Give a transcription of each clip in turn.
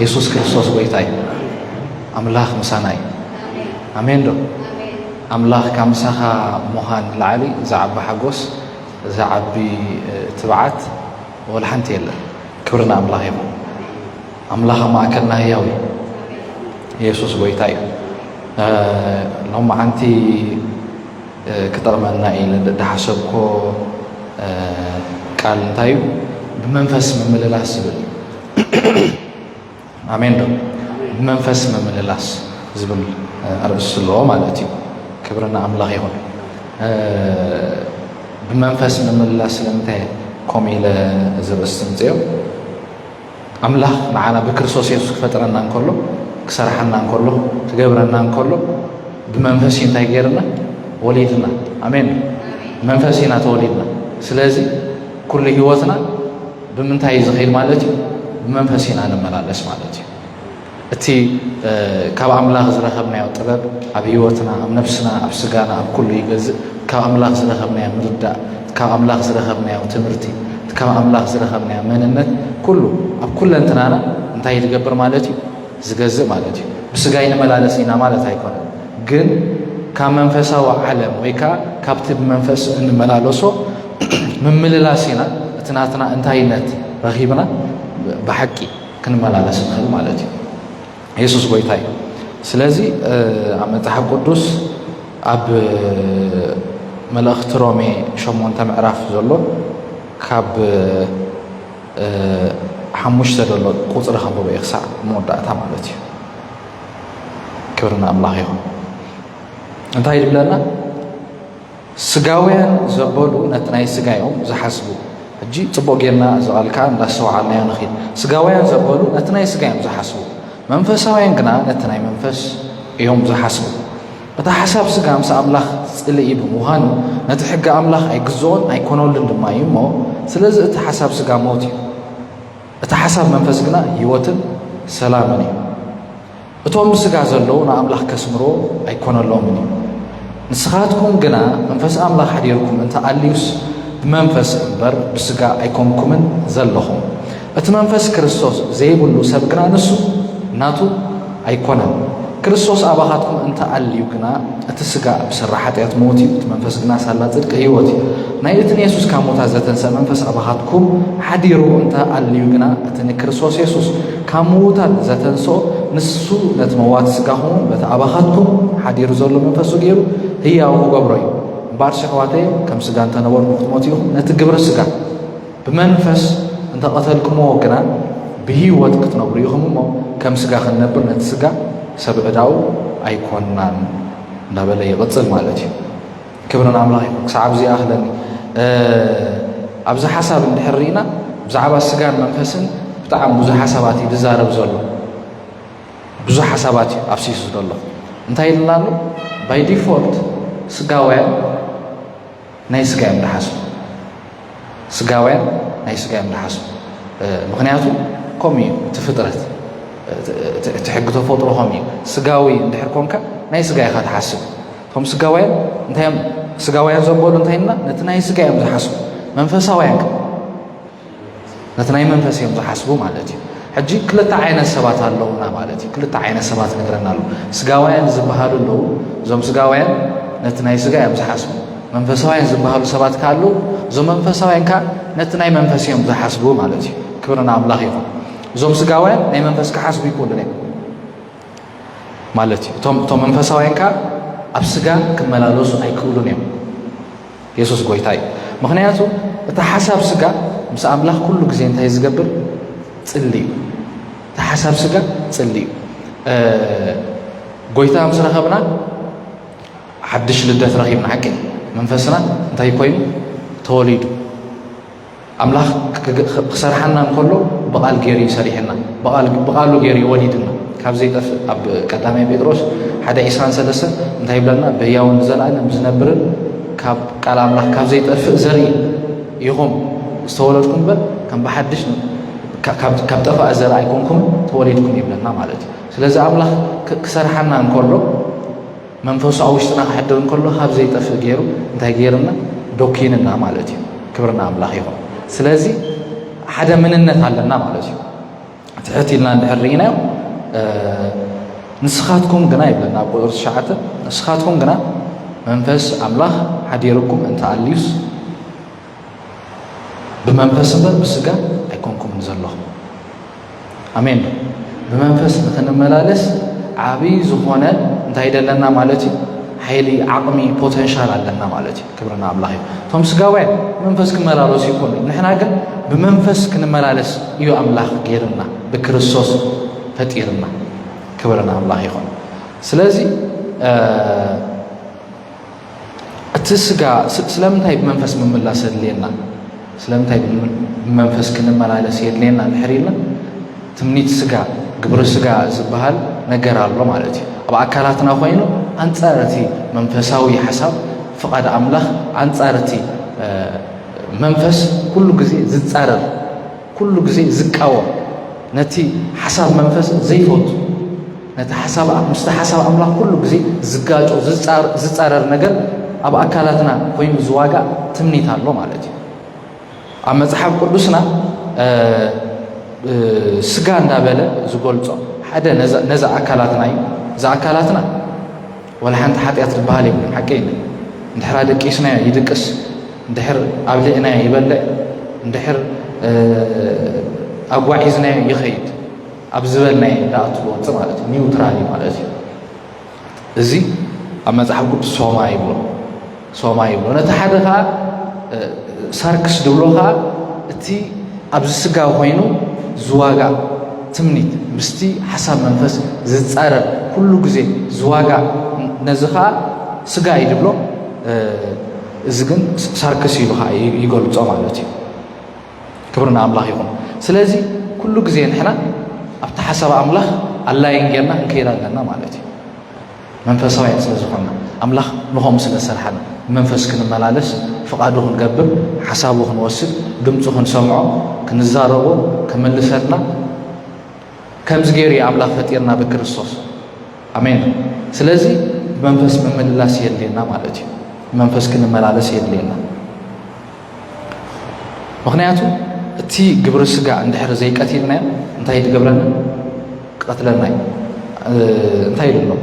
የሱስ ክርስቶስ ጐይታ እዩ። ኣምላኽ ምሳና እዩ። ኣሜን ዶ? ኣምላኽ ካብ ምሳኻ ምዃን ላዕሊ ዝዓቢ ሓጎስ ዝዓቢ ትብዓት ወላ ሓንቲ የለን። ክብሪ ንኣምላኽ ይኹን። ኣምላኽ ኣብ ማእከልና ህያው እዩ። የሱስ ጐይታ እዩ። ሎሚ ዓንቲ ክጠቕመና እዩ ዝሓሰብኮ ቃል እንታይ እዩ? ብመንፈስ ምምልላስ ዝብል ኣሜን ዶ ብመንፈስ ምምልላስ ዝብል ኣርእስ ኣለዎ ማለት እዩ ክብሪ ንኣምላኽ ይኹን ብመንፈስ ምምልላስ ስለምንታይ ከምኡ ኢለ እዚ ርእስ ዝምፅኦ ኣምላኽ ንዓና ብክርስቶስ የሱስ ክፈጥረና እንከሎ ክሰርሓና እንከሎ ክገብረና እንከሎ ብመንፈስ እዩ እንታይ ገይርና ወሊድና ኣሜን መንፈስ ኢና ተወሊድና ስለዚ ኩሉ ህይወትና ብምንታይ እዩ ዝኸይድ ማለት እዩ? ብመንፈስ ኢና ንመላለስ ማለት እዩ። እቲ ካብ ኣምላኽ ዝረኸብናዮ ጥበብ ኣብ ህይወትና ኣብ ነፍስና ኣብ ስጋና ኣብ ኩሉ ይገዝእ ካብ ኣምላኽ ዝረኸብናዮ ምርዳእ ካብ ኣምላኽ ዝረኸብናዮ ትምህርቲ ካብ ኣምላኽ ዝረኸብናዮ መንነት ኩሉ ኣብ ኩለንትናና እንታይ ዝገብር ማለት እዩ ዝገዝእ ማለት እዩ ብስጋ ይንመላለስ ኢና ማለት ኣይኮነ ግን ካብ መንፈሳዊ ዓለም ወይ ከዓ ካብቲ ብመንፈስ እንመላለሶ ምምልላስ ኢና እቲ ናትና እንታይነት ረኺብና ብሓቂ ክንመላለስ ንኽእል ማለት እዩ የሱስ ጎይታ እዩ ስለዚ ኣብ መጽሓፍ ቅዱስ ኣብ መልእኽቲ ሮሜ ሸሞንተ ምዕራፍ ዘሎ ካብ ሓሙሽተ ዘሎ ቁፅሪ ከንብበ እዩ ክሳዕ መወዳእታ ማለት እዩ ክብሪ ንኣምላኽ ይኹን እንታይ ይብለና ስጋውያን ዘበሉ ነቲ ናይ ስጋ እዮም ዝሓስቡ። ሕጂ ጽቡቕ ጌርና እዚ ቓል ከኣ እንዳስተውዓልናዮ ንኺድ። ስጋውያን ዘበሉ ነቲ ናይ ስጋ እዮም ዝሓስቡ፣ መንፈሳውያን ግና ነቲ ናይ መንፈስ እዮም ዝሓስቡ። እቲ ሓሳብ ስጋ ምስ ኣምላኽ ጽልኢ ብምዃኑ ነቲ ሕጊ ኣምላኽ ኣይግዝኦን ኣይኮነሉን ድማ እዩ እሞ ስለዚ እቲ ሓሳብ ስጋ ሞት እዩ። እቲ ሓሳብ መንፈስ ግና ህይወትን ሰላምን እዩ። እቶም ብሥጋ ዘለዉ ንኣምላኽ ከስምርዎ ኣይኮነሎምን እዩ። ንስኻትኩም ግና መንፈስ ኣምላኽ ኃዲርኩም እንተ ኣልዩስ ብመንፈስ እምበር ብሥጋ ኣይኮንኩምን ዘሎኹም። እቲ መንፈስ ክርስቶስ ዘይብሉ ሰብ ግና ንሱ ናቱ ኣይኮነን። ክርስቶስ ኣባኻትኩም እንተ ኣልዩ ግና እቲ ሥጋ ብሥራ ኃጢኣት ሞት እዩ፣ እቲ መንፈስ ግና ሳላ ጽድቂ ሕይወት እዩ። ናይ እቲ ንየሱስ ካብ ሞታት ዘተንሥእ መንፈስ ኣባኻትኩም ኃዲሩ እንተ ኣልዩ ግና እቲ ንክርስቶስ የሱስ ካብ ምዉታት ዘተንስኦ ንሱ ነቲ መዋቲ ስጋኹምውን በቲ ኣባኻትኩም ሓዲሩ ዘሎ መንፈሱ ገይሩ ህያው ክገብሮ እዩ እምበኣር ሸሕዋተይ ከም ስጋ እንተነበርኩ ክትሞት ኢኹም ነቲ ግብሪ ስጋ ብመንፈስ እንተቐተልኩምዎ ግና ብህይወት ክትነብሩ ኢኹም እሞ ከም ስጋ ክንነብር ነቲ ስጋ ሰብ ዕዳኡ ኣይኮንናን እናበለ ይቕፅል ማለት እዩ ክብሪ ንኣምላኽ ይኹን ክሳዕ ኣብዚ ይኣኽለኒ ኣብዚ ሓሳብ እንድሕር ርኢና ብዛዕባ ስጋን መንፈስን ብጣዕሚ ብዙሕ ሓሳባት እዩ ዝዛረብ ዘሎ ብዙሕ ሓሳባት እዩ ኣብሲሱ ዘሎ እንታይ ኢልና ኣሎ ባይ ዲፎልት ስጋውያን ናይ ስጋ እዮም ዝሓስቡ ስጋውያን ናይ ስጋ እዮም ዝሓስቡ ምክንያቱ ከምኡ እዩ እቲ ፍጥረት እቲ ሕጊ ተፈጥሮ ከምኡ እዩ ስጋዊ እንድሕር ኮንካ ናይ ስጋ ኢኻ ትሓስብ እቶም ስጋውያን እንታይ እዮም ስጋውያን ዘበሉ እንታይ እና ነቲ ናይ ስጋ እዮም ዝሓስቡ መንፈሳውያን ነቲ ናይ መንፈስ እዮም ዝሓስቡ ማለት እዩ ሕጂ ክልተ ዓይነት ሰባት ኣለውና ማለት እዩ ክልተ ዓይነት ሰባት ንግረና ኣሎ ስጋውያን ዝበሃሉ ኣለዉ እዞም ስጋውያን ነቲ ናይ ስጋ እዮም ዝሓስቡ መንፈሳውያን ዝበሃሉ ሰባት ካሉ እዞም መንፈሳውያን ከዓ ነቲ ናይ መንፈስ እዮም ዝሓስቡ ማለት እዩ ክብርና ኣምላኽ ይኹን እዞም ስጋውያን ናይ መንፈስ ክሓስቡ ይክእሉን እዮም ማለት እዩ እቶም እቶም መንፈሳውያን ከዓ ኣብ ስጋ ክመላለሱ ኣይክእሉን እዮም የሱስ ጎይታ እዩ ምክንያቱ እቲ ሓሳብ ስጋ ምስ ኣምላኽ ኩሉ ግዜ እንታይ ዝገብር ፅሊ እዩ እቲ ሓሳብ ስጋ ፅሊ እዩ ጎይታ ምስ ረኸብና ሓድሽ ልደት ረኺብና ሓቂ መንፈስና እንታይ ኮይኑ ተወሊዱ ኣምላኽ ክሰርሓና እንከሎ ብቓል ገይሩ እዩ ሰሪሕና ብቓሉ ገይሩ እዩ ወሊድና ካብ ዘይጠፍእ ኣብ ቀዳማይ ጴጥሮስ ሓደ ዒስራን ሰለስተን እንታይ ይብለና በያውን ንዘለኣለም ዝነብርን ካብ ቃል ኣምላኽ ካብ ዘይጠፍእ ዘርኢ ኢኹም ዝተወለድኩም እምበር ከም ብሓድሽ ካብ ጠፋእ ዘረ ኣይኮንኩም ተወሊድኩም ይብለና ማለት እዩ ስለዚ ኣምላኽ ክሰርሓና እንከሎ መንፈሱ ኣብ ውሽጥና ክሕድር እንከሎ ካብ ዘይጠፍእ ገይሩ እንታይ ገይርና ዶኪንና ማለት እዩ ክብርና ኣምላኽ ይኹን ስለዚ ሓደ ምንነት ኣለና ማለት እዩ ትሕት ኢልና እንድሕር ርኢናዮ ንስኻትኩም ግና ይብለና ኣብ ቁፅሪ ትሽዓተ ንስኻትኩም ግና መንፈስ ኣምላኽ ሓዲርኩም እንተኣልዩስ ብመንፈስ እምበር ብስጋ ኣይኮንኩምን ዘለኹም ኣሜን ዶ ብመንፈስ ንክንመላለስ ዓብይ ዝኾነ እንታይ ደለና ማለት እዩ ሓይሊ ዓቕሚ ፖተንሻል ኣለና ማለት እዩ ክብርና ኣምላኽ እዩ እቶም ስጋውያን መንፈስ ክመላለሱ ይኮኑ ንሕና ግን ብመንፈስ ክንመላለስ እዩ ኣምላኽ ገይርና ብክርስቶስ ፈጢርና ክብርና ኣምላኽ ይኹን ስለዚ እቲ ስጋ ስለምንታይ ብመንፈስ ምምላስ ኣድልየና ስለምንታይ ብመንፈስ ክንመላለስ የድልየና ድሕሪ ኢልና ትምኒት ስጋ ግብሪ ስጋ ዝበሃል ነገር ኣሎ ማለት እዩ ኣብ ኣካላትና ኮይኑ ኣንጻር እቲ መንፈሳዊ ሓሳብ ፍቓድ ኣምላኽ ኣንጻር እቲ መንፈስ ኩሉ ግዜ ዝጻረር ኩሉ ግዜ ዝቃወም ነቲ ሓሳብ መንፈስ ዘይፈቱ ነቲ ሓሳብ ምስቲ ሓሳብ ኣምላኽ ኩሉ ግዜ ዝጋጮ ዝፃረር ነገር ኣብ ኣካላትና ኮይኑ ዝዋጋእ ትምኒት ኣሎ ማለት እዩ ኣብ መፅሓፍ ቅዱስና ስጋ እንዳበለ ዝገልፆ ሓደ ነዚ ኣካላትና እዩ እዚ ኣካላትና ዋላ ሓንቲ ሓጢኣት ዝበሃል የብሉን ሓቂ እዩ እንድሕር ኣደቂስናዮ ይድቅስ እንድሕር ኣብልዕናዮ ይበልዕ እንድሕር ኣጓዒዝናዮ ይኸይድ ኣብ ዝበልናዮ ዳኣት ዝወፅእ ማለት እዩ ኒውትራል ማለት እዩ እዚ ኣብ መፅሓፍ ቅዱስ ሶማ ይብሎ ሶማ ይብሎ ነቲ ሓደ ኸዓ ሳርክስ ድብሎ ኸዓ እቲ ኣብዚ ስጋ ኮይኑ ዝዋጋእ ትምኒት ምስቲ ሓሳብ መንፈስ ዝፃረር ኩሉ ግዜ ዝዋጋእ ነዚ ከዓ ስጋ እዩ ድብሎ እዚ ግን ሳርክስ ኢሉ ከዓ ይገልፆ ማለት እዩ ክብሪ ንኣምላኽ ይኹን ስለዚ ኩሉ ግዜ ንሕና ኣብቲ ሓሳብ ኣምላኽ ኣላይን ጌርና ክንከይድ ኣለና ማለት እዩ መንፈሳውያን ስለ ዝኾንና፣ ኣምላኽ ንኸምኡ ስለ ዝሰርሓና፣ ብመንፈስ ክንመላለስ፣ ፍቓዱ ክንገብር፣ ሓሳቡ ክንወስድ፣ ድምጹ ክንሰምዖ፣ ክንዛረቦ፣ ክምልሰልና፣ ከምዚ ገይሩ እዩ ኣምላኽ ፈጢርና ብክርስቶስ። ኣሜን። ስለዚ ብመንፈስ ምምልላስ የድልየና ማለት እዩ። ብመንፈስ ክንመላለስ የድልየና። ምክንያቱ እቲ ግብረ ስጋ እንድሕር ዘይቀቲልናዮ እንታይ ትገብረና ቀትለና እዩ እንታይ ኢሉ ኣሎ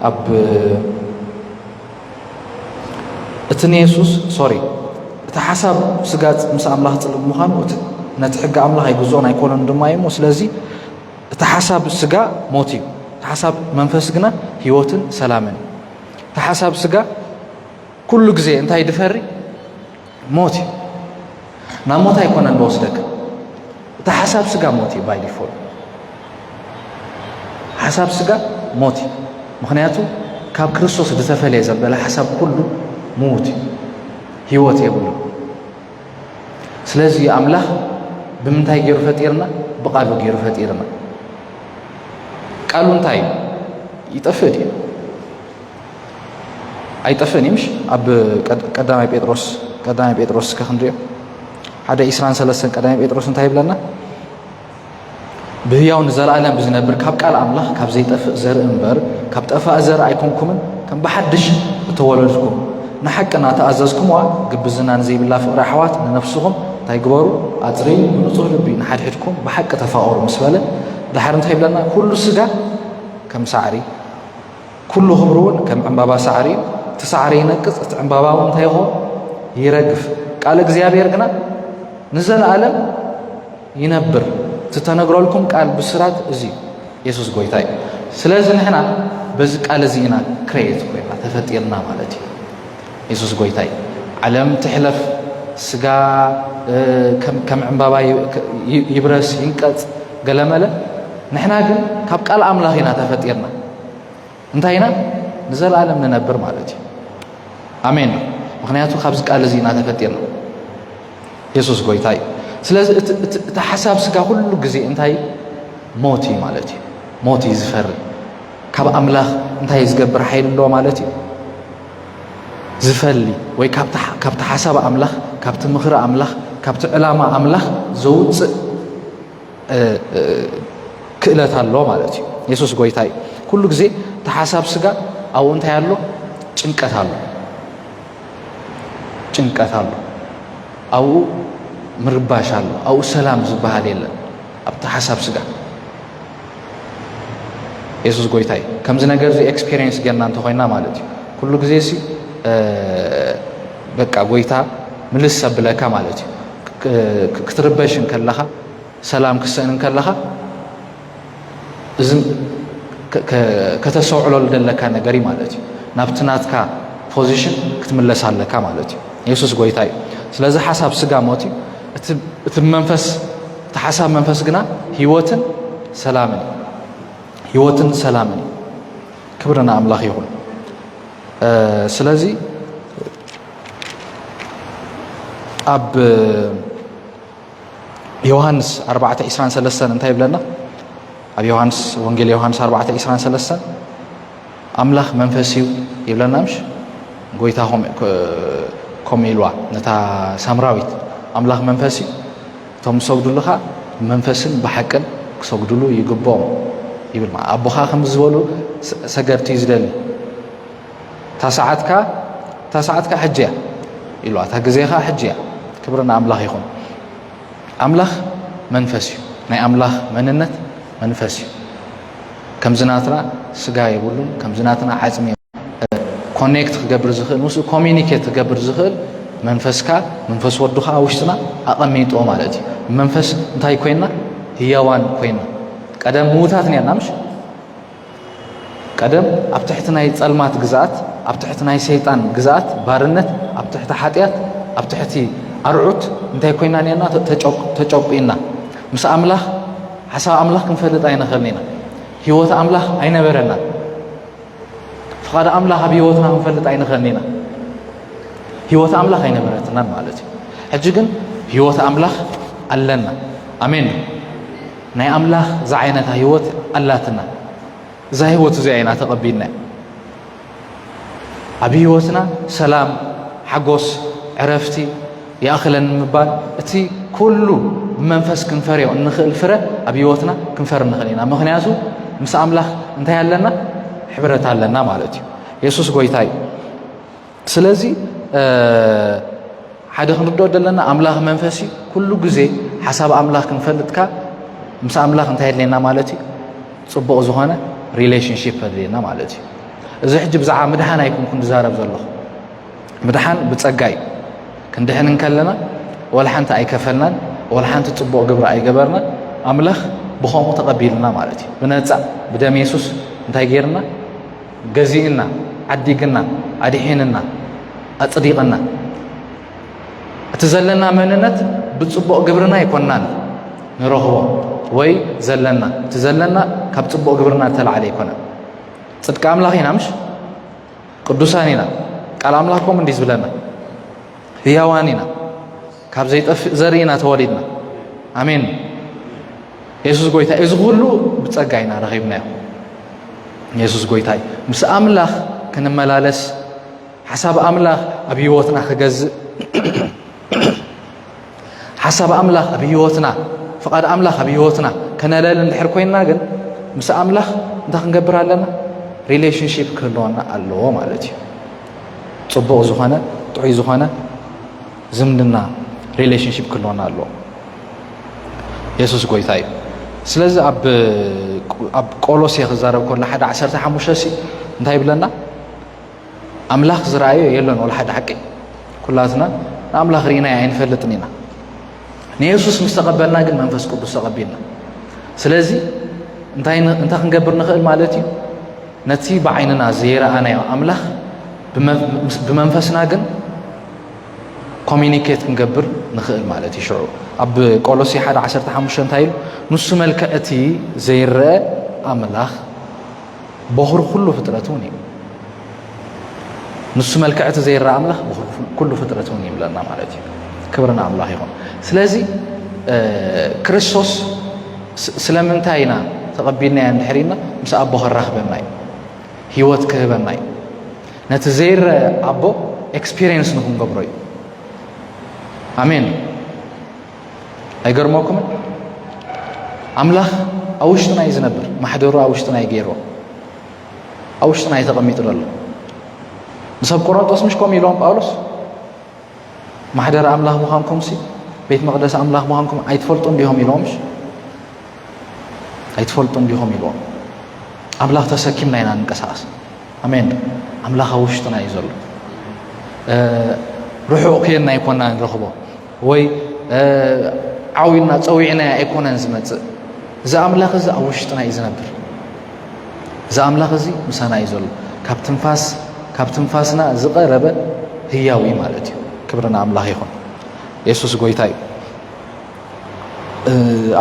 ኣብ እቲ ንየሱስ ሶሪ እቲ ሓሳብ ስጋ ምስ ኣምላኽ ፅልእ ምዃኑ ነቲ ሕጊ ኣምላኽ ኣይግዝኦን ኣይኮነን ድማ እዩ እሞ ስለዚ እቲ ሓሳብ ስጋ ሞት እዩ እቲ ሓሳብ መንፈስ ግና ህይወትን ሰላምን እዩ እቲ ሓሳብ ስጋ ኩሉ ግዜ እንታይ ድፈሪ ሞት እዩ ናብ ሞት ኣይኮነን ዝወስደካ እቲ ሓሳብ ስጋ ሞት እዩ ባይ ዲፎልት ሓሳብ ስጋ ሞት እዩ ምክንያቱ ካብ ክርስቶስ ዝተፈለየ ዘበለ ሓሳብ ኩሉ ምዉት እዩ ህይወት የብሉ ስለዚ ኣምላኽ ብምንታይ ገይሩ ፈጢርና ብቃሉ ገይሩ ፈጢርና ቃሉ እንታይ እዩ ይጠፍእ ድዩ ኣይጠፍእን እዩ ምሽ ኣብ ቀዳማይ ጴጥሮስ ቀዳማይ ጴጥሮስ እስከ ክንሪኦ ሓደ ኢስራን ሰለስተን ቀዳማይ ጴጥሮስ እንታይ ይብለና ብህያው ንዘለኣለም ብዝነብር ካብ ቃል ኣምላኽ ካብ ዘይጠፍእ ዘርኢ እምበር ካብ ጠፋእ ዘርኢ ኣይኮንኩምን ከም ብሓድሽ እተወለድኩም ንሓቂ እናተኣዘዝኩምዋ ግብዝና ንዘይብላ ፍቕሪ ኣሕዋት ንነፍስኹም እንታይ ግበሩ ኣፅርዩ ብንፁህ ልቢ ንሓድሕድኩም ብሓቂ ተፋቐሩ ምስ በለ ድሓር እንታይ ይብለና ኩሉ ስጋ ከም ሳዕሪ ኩሉ ክብሩ እውን ከም ዕምባባ ሳዕሪ እዩ እቲ ሳዕሪ ይነቅፅ እቲ ዕምባባ እውን እንታይ ይኸውን ይረግፍ ቃል እግዚኣብሔር ግና ንዘለዓለም ይነብር ትተነግረልኩም ቃል ብስራት እዚ የሱስ ጎይታ እዩ ስለዚ ንሕና በዚ ቃል እዚ ኢና ክሬት ኮይና ተፈጢርና ማለት እዩ የሱስ ጎይታ እዩ ዓለም ትሕለፍ ስጋ ከም ዕምባባ ይብረስ ይንቀጽ ገለመለ ንሕና ግን ካብ ቃል ኣምላኽ ኢና ተፈጢርና እንታይ ኢና ንዘለኣለም ንነብር ማለት እዩ ኣሜን ምክንያቱ ካብዚ ቃል እዚ ኢና ተፈጢርና የሱስ ጎይታ እዩ ስለዚ እቲ ሓሳብ ስጋ ኩሉ ግዜ እንታይ ሞት እዩ ማለት እዩ ሞት እዩ ዝፈሪ ካብ ኣምላኽ እንታይ ዝገብር ሓይሊ ኣለዎ ማለት እዩ ዝፈሊ ወይ ካብቲ ሓሳብ ኣምላኽ ካብቲ ምኽሪ ኣምላኽ ካብቲ ዕላማ ኣምላኽ ዘውፅእ ክእለት ኣሎ ማለት እዩ የሱስ ጎይታ እዩ ኩሉ ግዜ እቲ ሓሳብ ስጋ ኣብኡ እንታይ ኣሎ ጭንቀት ኣሎ ጭንቀት ኣሎ ኣብኡ ምርባሽ ኣሎ ኣብኡ ሰላም ዝበሃል የለን ኣብቲ ሓሳብ ስጋ የሱስ ጎይታ እዩ ከምዚ ነገር እዚ ኤክስፔሪንስ ገና እንተኮይና ማለት እዩ ኩሉ ግዜ ሲ በቃ ጎይታ ምልስ ኣብለካ ማለት እዩ ክትርበሽ እንከለኻ ሰላም ክሰእን እንከለኻ እዚ ከተሰውዕለሉ ዘለካ ነገር እዩ ማለት እዩ ናብቲ ናትካ ፖዚሽን ክትምለስ ኣለካ ማለት እዩ የሱስ ጎይታ እዩ ስለዚ ሓሳብ ስጋ ሞት እዩ እቲ መንፈስ እቲ ሓሳብ መንፈስ ግና ህይወትን ሰላምን እዩ ህይወትን ሰላምን እዩ ክብሪ ንኣምላኽ ይኹን ስለዚ ኣብ ዮሃንስ 423 እንታይ ይብለና ኣብ ዮሃንስ ወንጌል ዮሃንስ 423 ኣምላኽ መንፈስ እዩ ይብለና ምሽ ጎይታ ከምኡ ኢልዋ ነታ ሳምራዊት ኣምላኽ መንፈስ እዩ እቶም ዝሰግዱልኻ ብመንፈስን ብሓቅን ክሰግዱሉ ይግብኦም ይብል ማለት ኣቦኻ ከምዚ ዝበሉ ሰገድቲ ዝደሊ እታ ሰዓትካ እታ ሰዓትካ ሕጂ እያ ኢሉዋ እታ ግዜኻ ሕጂ እያ ክብሪ ንኣምላኽ ይኹን ኣምላኽ መንፈስ እዩ ናይ ኣምላኽ መንነት መንፈስ እዩ ከምዚ ናትና ስጋ የብሉን ከምዚ ናትና ዓፅሚ ኮኔክት ክገብር ዝኽእል ምስኡ ኮሚኒኬት ክገብር ዝኽእል መንፈስካ መንፈስ ወዱ ከዓ ውሽጥና ኣቐሚጦ ማለት እዩ መንፈስ እንታይ ኮይና ህያዋን ኮይና ቀደም ምዉታት ኒያና ምሽ ቀደም ኣብ ትሕቲ ናይ ጸልማት ግዛኣት ኣብ ትሕቲ ናይ ሰይጣን ግዛኣት ባርነት ኣብ ትሕቲ ሓጢኣት ኣብ ትሕቲ ኣርዑት እንታይ ኮይና ኒያና ተጨቁኢና ምስ ኣምላኽ ሓሳብ ኣምላኽ ክንፈልጥ ኣይንኽእልን ኢና ህይወት ኣምላኽ ኣይነበረና ፍቓድ ኣምላኽ ኣብ ህይወትና ክንፈልጥ ኣይንኸን ኢና ህይወት ኣምላኽ ኣይነበረትናን ማለት እዩ ሕጂ ግን ህይወት ኣምላኽ ኣለና ኣሜን ናይ ኣምላኽ ዝዓይነታ ህይወት ኣላትና እዛ ህይወት እዚኣ ኢና ተቐቢልና ኣብ ህይወትና ሰላም ሓጎስ ዕረፍቲ ይኣኽለኒ ምባል እቲ ኩሉ ብመንፈስ ክንፈርዮ እንኽእል ፍረ ኣብ ህይወትና ክንፈር ንኽእል ኢና ምኽንያቱ ምስ ኣምላኽ እንታይ ኣለና ሕብረት ኣለና ማለት እዩ የሱስ ጎይታ እዩ ስለዚ ሓደ ክንርድኦ ዘለና ኣምላኽ መንፈስ እዩ ኩሉ ግዜ ሓሳብ ኣምላኽ ክንፈልጥካ ምስ ኣምላኽ እንታይ የድልየና ማለት እዩ ፅቡቕ ዝኾነ ሪሌሽንሽፕ ኣድልየና ማለት እዩ እዚ ሕጂ ብዛዕባ ምድሓን ኣይኩንኩ ዝዛረብ ዘለኹ ምድሓን ብጸጋ እዩ። ክንድሕን እንከለና ወላ ሓንቲ ኣይከፈልናን፣ ወላ ሓንቲ ጽቡቕ ግብሪ ኣይገበርና፣ ኣምላኽ ብኸምኡ ተቐቢልና ማለት እዩ። ብነጻ ብደም የሱስ እንታይ ጌርና? ገዚእና፣ ዓዲግና፣ ኣድሒንና፣ ኣጽዲቕና። እቲ ዘለና መንነት ብጽቡቕ ግብርና ኣይኮናን ንረኽቦ ወይ ዘለና እቲ ዘለና ካብ ጽቡቕ ግብርና ዝተላዕለ ኣይኮነን ጽድቂ ኣምላኽ ኢና ምሽ ቅዱሳን ኢና ቃል ኣምላኽ ከምኡ እንዲ ዝብለና ህያዋን ኢና ካብ ዘይጠፍእ ዘርኢ ኢና ተወሊድና ኣሜን የሱስ ጎይታ እዩ እዚ ኩሉ ብጸጋ ኢና ረኺብናዮ የሱስ ጎይታ እዩ ምስ ኣምላኽ ክንመላለስ ሓሳብ ኣምላኽ ኣብ ህይወትና ክገዝእ ሓሳብ ኣምላኽ ኣብ ህይወትና ፍቓድ ኣምላኽ ኣብ ህይወትና ከነለል እንድሕር ኮይንና ግን ምስ ኣምላኽ እንታይ ክንገብር ኣለና ሪሌሽንሽፕ ክህልወና ኣለዎ ማለት እዩ ፅቡቕ ዝኾነ ጥዑይ ዝኾነ ዝምድና ሪሌሽንሽፕ ክህልወና ኣለዎ የሱስ ጎይታ እዩ ስለዚ ኣብ ቆሎሴ ክዛረብ ከሎ ሓደ ዓሰርተ ሓሙሽተ ሲ እንታይ ይብለና ኣምላኽ ዝረኣዮ የሎን ወላ ሓደ ሓቂ ኩላትና ንኣምላኽ ርኢናዮ ኣይንፈልጥን ኢና ንየሱስ ምስ ተቐበልና ግን መንፈስ ቅዱስ ተቐቢልና ስለዚ እንታይ ክንገብር ንኽእል ማለት እዩ ነቲ ብዓይንና ዘይረኣናዮ ኣምላኽ ብመንፈስና ግን ኮሚኒኬት ክንገብር ንኽእል ማለት እዩ ሽዑ ኣብ ቆሎሲ ሓደ ዓሰርተ ሓሙሽተ እንታይ ኢሉ ንሱ መልክዕ እቲ ዘይረአ ኣምላኽ ቦኽሪ ኩሉ ፍጥረት እውን እዩ ንሱ መልክዕቲ ዘይረኣ ኣምላኽ ኩሉ ፍጥረት እውን ይብለና ማለት እዩ ክብርና ኣምላኽ ይኹን ስለዚ ክርስቶስ ስለምንታይ ኢና ተቐቢልናዮ እንድሕሪና ምስ ኣቦ ከራኽበና እዩ ህይወት ክህበና እዩ ነቲ ዘይረ ኣቦ ኤክስፔሪንስ ንክንገብሮ እዩ ኣሜን ኣይገርመኩምን ኣምላኽ ኣብ ውሽጥና እዩ ዝነብር ማሕደሩ ኣብ ውሽጥና እዩ ገይርዎ ኣብ ውሽጥና እዩ ተቐሚጡ ዘሎ ንሰብ ቆሮንጦስ ምሽ ከምኡ ኢሎም ጳውሎስ ማሕደር ኣምላኽ ምዃንኩም ሲ ቤት መቕደስ ኣምላኽ ምዃንኩም ኣይትፈልጡን ዲኹም ኢሎም ምሽ ኣይትፈልጡን ዲኹም ኢልዎም ኣምላኽ ተሰኪምና ኢና ንንቀሳቐስ ኣሜን ኣምላኽ ኣብ ውሽጥና እዩ ዘሎ ርሑቕ ክየና ኣይኮና ንረኽቦ ወይ ዓውዩና ፀዊዕናያ ኣይኮነን ዝመፅእ እዚ ኣምላኽ እዚ ኣብ ውሽጥና እዩ ዝነብር እዚ ኣምላኽ እዚ ምሳና እዩ ዘሎ ካብ ትንፋስ ካብ ትንፋስና ዝቐረበ ህያው እዩ ማለት እዩ ክብርና ኣምላኽ ይኹን የሱስ ጎይታ እዩ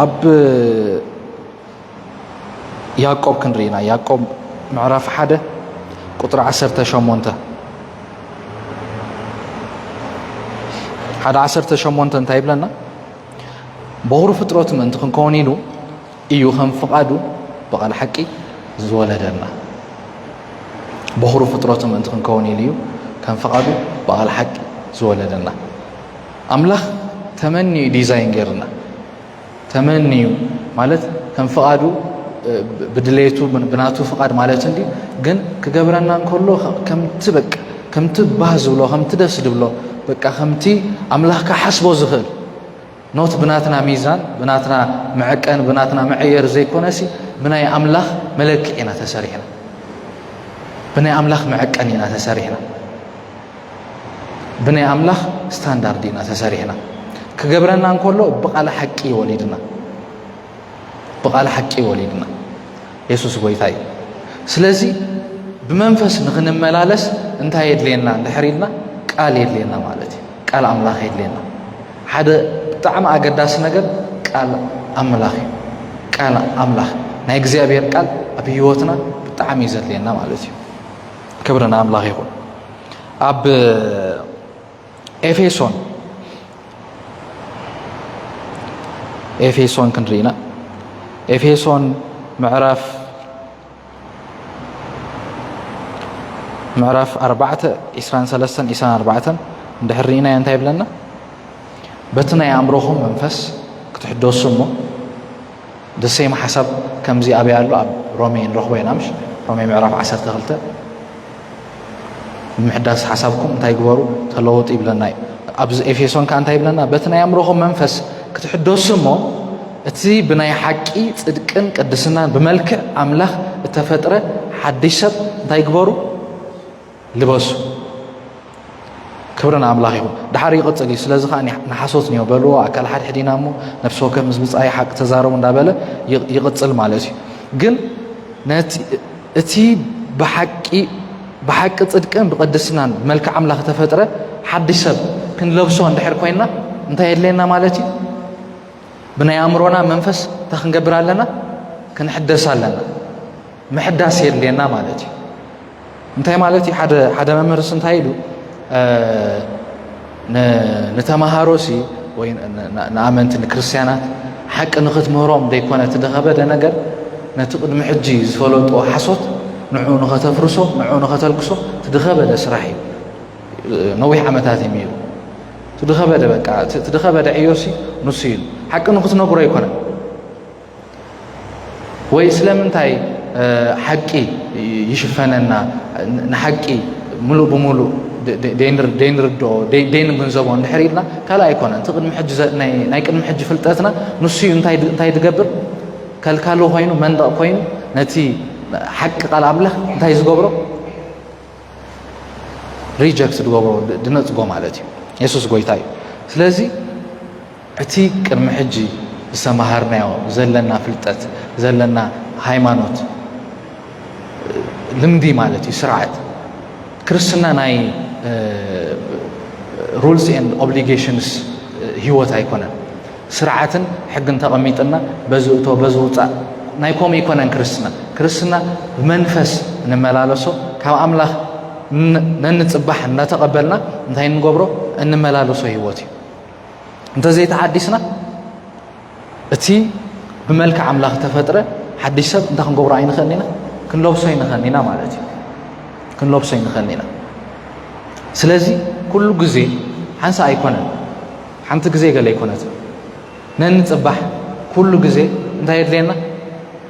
ኣብ ያቆብ ክንርኢና ያቆብ ምዕራፍ ሓደ ቁጥሪ ዓሰርተ ሸሞንተ ሓደ ዓሰርተ ሸሞንተ እንታይ ይብለና በኹሪ ፍጥረቱ ምእንቲ ክንከውን ኢሉ እዩ ከም ፍቓዱ ብቓል ሓቂ ዝወለደና በኹሪ ፍጥረቱ ምእንቲ ክንከውን ኢሉ እዩ ከም ፍቓዱ ብቓል ሓቂ ዝወለደና ኣምላኽ ተመኒዩ ዲዛይን ገይርና ተመንዩ ማለት ከም ፍቓዱ ብድሌቱ ብናቱ ፍቓድ ማለት እንዲ ግን ክገብረና እንከሎ ከምቲ በቃ ከምቲ ባህ ዝብሎ ከምቲ ደስ ዝብሎ በቃ ከምቲ ኣምላኽ ክሓስቦ ዝኽእል ኖት ብናትና ሚዛን ብናትና መዐቀን ብናትና መዐየር ዘይኮነሲ ብናይ ኣምላኽ መለክዕ ኢና ተሰሪሕና ብናይ ኣምላኽ መዐቀን ኢና ተሰሪሕና ብናይ ኣምላኽ ስታንዳርድ ኢና ተሰሪሕና ክገብረና እንከሎ ብቓል ሓቂ ወሊድና ብቓል ሓቂ ወሊድና የሱስ ጎይታ እዩ ስለዚ ብመንፈስ ንኽንመላለስ እንታይ የድልየና እንድሕር ኢልና ቃል የድልየና ማለት እዩ ቃል ኣምላኽ የድልየና ሓደ ብጣዕሚ ኣገዳሲ ነገር ቃል ኣምላኽ እዩ ቃል ኣምላኽ ናይ እግዚኣብሔር ቃል ኣብ ህይወትና ብጣዕሚ እዩ ዘድልየና ማለት እዩ ክብሪ ንኣምላኽ ይኹን ኣብ ኤፌሶን ኤፌሶን ክንርኢ ኢና ኤፌሶን ምዕራፍ ምዕራፍ 4 23 24 እንድሕር ርኢናዮ እንታይ ይብለና በቲ ናይ ኣእምሮኹም መንፈስ ክትሕደሱ እሞ the same ሓሳብ ከምዚ ኣበይ ኣሎ ኣብ ሮሜ ንረኽቦ ኢና ምሽ ሮሜ ምዕራፍ ዓሰርተ ክልተ ንምሕዳስ ሓሳብኩም እንታይ ግበሩ ተለወጡ ይብለና እዩ ኣብዚ ኤፌሶን ከዓ እንታይ ይብለና በቲ ናይ ኣእምሮኹም መንፈስ ክትሕደሱ እሞ እቲ ብናይ ሓቂ ፅድቅን ቅድስናን ብመልክዕ ኣምላኽ እተፈጥረ ሓድሽ ሰብ እንታይ ግበሩ ልበሱ ክብሪ ንኣምላኽ ይኹን ድሓር ይቕፅል እዩ ስለዚ ከዓ ንሓሶት እኒኦ በልዎ ኣካል ሓድሕድ ኢና እሞ ነፍሲ ወከፍ ምስ ብፃይ ሓቂ ተዛረቡ እንዳበለ ይቕፅል ማለት እዩ ግን እቲ ብሓቂ ብሓቂ ፅድቅን ብቅድስናን መልክዕ ኣምላኽ ተፈጥረ ሓድሽ ሰብ ክንለብሶ እንድሕር ኮይንና እንታይ የድለየና ማለት እዩ ብናይ ኣእምሮና መንፈስ እንታይ ክንገብር ኣለና ክንሕደስ ኣለና ምሕዳስ የድልየና ማለት እዩ እንታይ ማለት እዩ ሓደ መምህርስ እንታይ ኢሉ ንተምሃሮሲ ወይ ንኣመንቲ ንክርስትያናት ሓቂ ንኽትምህሮም ዘይኮነ እቲ ደኸበደ ነገር ነቲ ቅድሚ ሕጂ ዝፈለጦ ሓሶት ንዑ ንኸተፍርሶ ንዑ ንኸተልክሶ እቲ ድኸበደ ስራሕ እዩ ነዊሕ ዓመታት እዩ ሚሩ እቲ ድኸበደ በቃ እቲ ድኸበደ ዕዮሲ ንሱ ኢሉ ሓቂ ንኽትነግሮ ኣይኮነን ወይ ስለምንታይ ሓቂ ይሽፈነና ንሓቂ ምሉእ ብምሉእ ደይንርድኦ ደይንግንዘቦ እንድሕር ኢልና ካልእ ኣይኮነን እቲ ናይ ቅድሚ ሕጂ ፍልጠትና ንሱዩ እንታይ ዝገብር ከልካሉ ኮይኑ መንደቕ ኮይኑ ነቲ ሓቂ ቃል ኣምላኽ እንታይ ዝገብሮ ሪጀክት ዝገብሮ ድነፅጎ ማለት እዩ የሱስ ጎይታ እዩ ስለዚ እቲ ቅድሚ ሕጂ ዝተመሃርናዮ ዘለና ፍልጠት ዘለና ሃይማኖት ልምዲ ማለት እዩ ስርዓት ክርስትና ናይ ሩልስ ኤንድ ኦብሊጌሽንስ ህይወት ኣይኮነን ስርዓትን ሕግን ተቐሚጥና በዚ እቶ በዚ ውፃእ ናይ ከምኡ ኣይኮነን ክርስትና ክርስትና ብመንፈስ እንመላለሶ ካብ ኣምላኽ ነንፅባሕ እናተቐበልና እንታይ እንገብሮ እንመላለሶ ህይወት እዩ እንተዘይተሓዲስና እቲ ብመልክዕ ኣምላኽ ተፈጥረ ሓድሽ ሰብ እንታይ ክንገብሮ ኣይንኽእል ኢና ክንለብሶ ኣይንኽእል ኢና ማለት እዩ ክንለብሶ ኣይንኽእል ኢና ስለዚ ኩሉ ግዜ ሓንሳ ኣይኮነን ሓንቲ ግዜ ገለ ኣይኮነት ነንፅባሕ ኩሉ ግዜ እንታይ የድልየና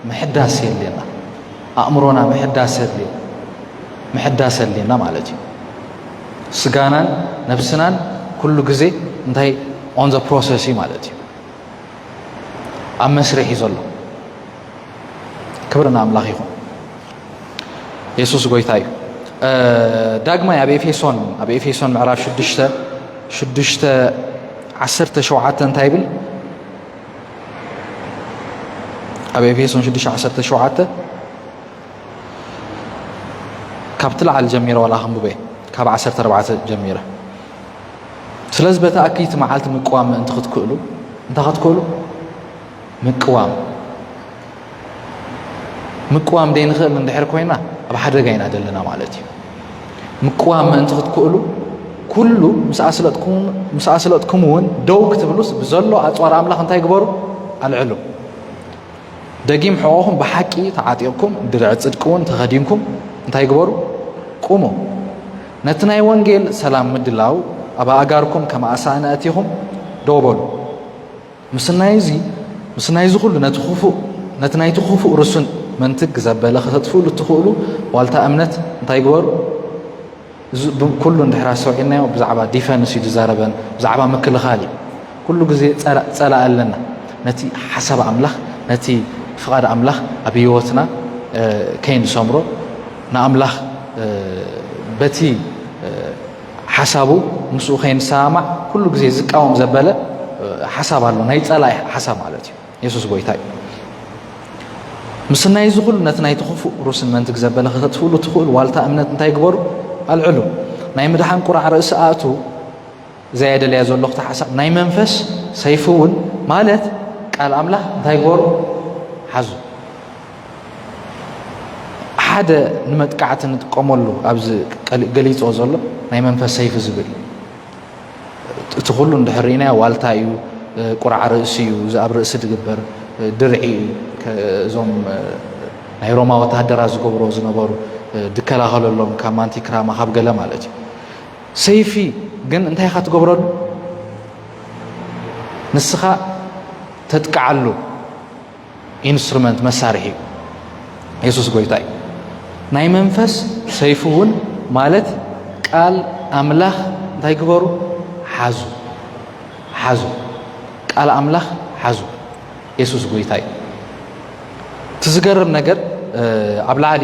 ምሕዳስ የድልየና ኣእምሮና ምሕዳስ የድልየ ምሕዳስ የድልየና ማለት እዩ ስጋናን ነብስናን ኩሉ ግዜ እንታይ ኦን ዘ ፕሮሰስ እዩ ማለት እዩ ኣብ መስርሕ እዩ ዘሎ ክብሪ ንኣምላኽ ይኹን የሱስ ጎይታ እዩ ዳግማይ ኣብ ኤፌሶን ኣብ ኤፌሶን ምዕራፍ 6 6 17 እንታይ ይብል ኣብ ኤፌሶን 6 17 ካብቲ ላዕሊ ጀሚረ ዋላ ክንብበ ካብ ዓሰርተ ኣርባዕተ ጀሚረ ስለዚ በቲ ኣክይቲ መዓልቲ ምቅዋም ምእንቲ ክትክእሉ እንታይ ክትክእሉ ምቅዋም ምቅዋም ዘይንኽእል እንድሕር ኮይና ኣብ ሓደጋ ኢና ዘለና ማለት እዩ ምቅዋም ምእንቲ ክትክእሉ ኩሉ ምስ ኣስለጥኩም እውን ደው ክትብሉስ ብዘሎ ኣፅዋር ኣምላኽ እንታይ ግበሩ ኣልዕሉ ደጊም ሕቖኹም ብሓቂ ተዓጢቕኩም ድርዒ ጽድቂ እውን ተኸዲንኩም እንታይ ግበሩ? ቁሙ። ነቲ ናይ ወንጌል ሰላም ምድላው ኣብ ኣእጋርኩም ከም ኣሳእን ኣእቲኹም ደው በሉ። ምስናይ እዚ ምስናይ እዚ ኩሉ ነቲ ክፉእ ነቲ ናይቲ ክፉእ ርሱን መንትግ ዘበለ ከተጥፍእሉ እትኽእሉ ዋልታ እምነት እንታይ ግበሩ? እዚ ኩሉ እንድሕር ኣስተውዒልናዮ ብዛዕባ ዲፈንስ እዩ ዝዛረበን ብዛዕባ ምክልኻል እዩ ኩሉ ግዜ ጸላእ ኣለና ነቲ ሓሳብ ኣምላኽ ነቲ ፍቓድ ኣምላኽ ኣብ ህይወትና ከይንሰምሮ ንኣምላኽ በቲ ሓሳቡ ምስኡ ከይንሰማማዕ ኩሉ ግዜ ዝቃወም ዘበለ ሓሳብ ኣሎ ናይ ጸላኢ ሓሳብ ማለት እዩ የሱስ ጎይታ እዩ። ምስናይ እዚ ኩሉ ነቲ ናይቲ ክፉእ ሩስን መንትግ ዘበለ ክኸጥፍሉ ትኽእሉ ዋልታ እምነት እንታይ ግበሩ ኣልዕሉ ናይ ምድሓን ቁራዕ ርእሲ ኣእቱ እዛ የደለያ ዘሎ ክተሓሳብ ናይ መንፈስ ሰይፊ እውን ማለት ቃል ኣምላኽ እንታይ ግበሩ ሓዙ ሓደ ንመጥቃዕቲ ንጥቀመሉ ኣብዚ ገሊፆ ዘሎ ናይ መንፈስ ሰይፊ ዝብል እቲ ኩሉ እንድሕር ርኢናዮ ዋልታ እዩ፣ ቁራዕ ርእሲ እዩ፣ እዚ ኣብ ርእሲ ዝግበር ድርዒ እዩ፣ እዞም ናይ ሮማ ወተሃደራት ዝገብሮ ዝነበሩ ዝከላኸለሎም ካብ ማንቲ ክራማ ካብ ገለ ማለት እዩ። ሰይፊ ግን እንታይ ኢኻ ትገብረሉ? ንስኻ ተጥቅዓሉ። ኢንስትሩመንት መሳርሒ እዩ የሱስ ጎይታ እዩ ናይ መንፈስ ሰይፉ እውን ማለት ቃል ኣምላኽ እንታይ ግበሩ ሓዙ ሓዙ ቃል ኣምላኽ ሓዙ የሱስ ጎይታ እዩ እቲ ዝገርም ነገር ኣብ ላዕሊ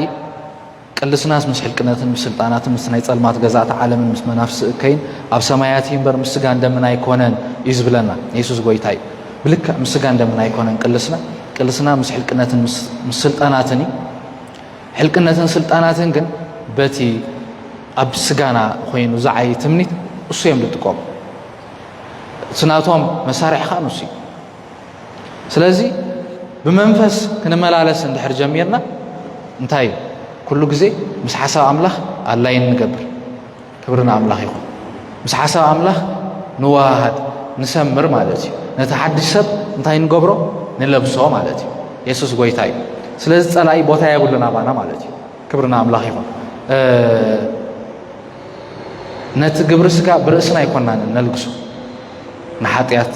ቅልስናስ ምስ ሕልቅነትን ምስ ስልጣናትን ምስ ናይ ጸልማት ገዛእቲ ዓለምን ምስ መናፍስቲ እከይን ኣብ ሰማያት እዩ እምበር ምስ ስጋን ደምን ኣይኮነን እዩ ዝብለና የሱስ ጎይታ እዩ ብልክዕ ምስ ስጋን ደምን ኣይኮነን ቅልስና ቅልስና ምስ ሕልቅነትን ምስ ስልጣናትን እዩ ሕልቅነትን ስልጣናትን ግን በቲ ኣብ ስጋና ኮይኑ ዝዓይ ትምኒት እሱ እዮም ዝጥቀሙ እቲ ናቶም መሳርሒ ከዓ ንሱ እዩ ስለዚ ብመንፈስ ክንመላለስ እንድሕር ጀሚርና እንታይ እዩ ኩሉ ግዜ ምስ ሓሳብ ኣምላኽ ኣላይን ንገብር ክብሪ ንኣምላኽ ይኹን ምስ ሓሳብ ኣምላኽ ንዋሃሃድ ንሰምር ማለት እዩ ነቲ ሓድሽ ሰብ እንታይ ንገብሮ ንለብሶ ማለት እዩ የሱስ ጎይታ እዩ ስለዚ ጸላኢ ቦታ የብሉን ኣባና ማለት እዩ ክብሪ ንኣምላኽ ይኹን ነቲ ግብሪ ስጋ ብርእስና ኣይኮናን ነልግሶ ንሓጢኣት፣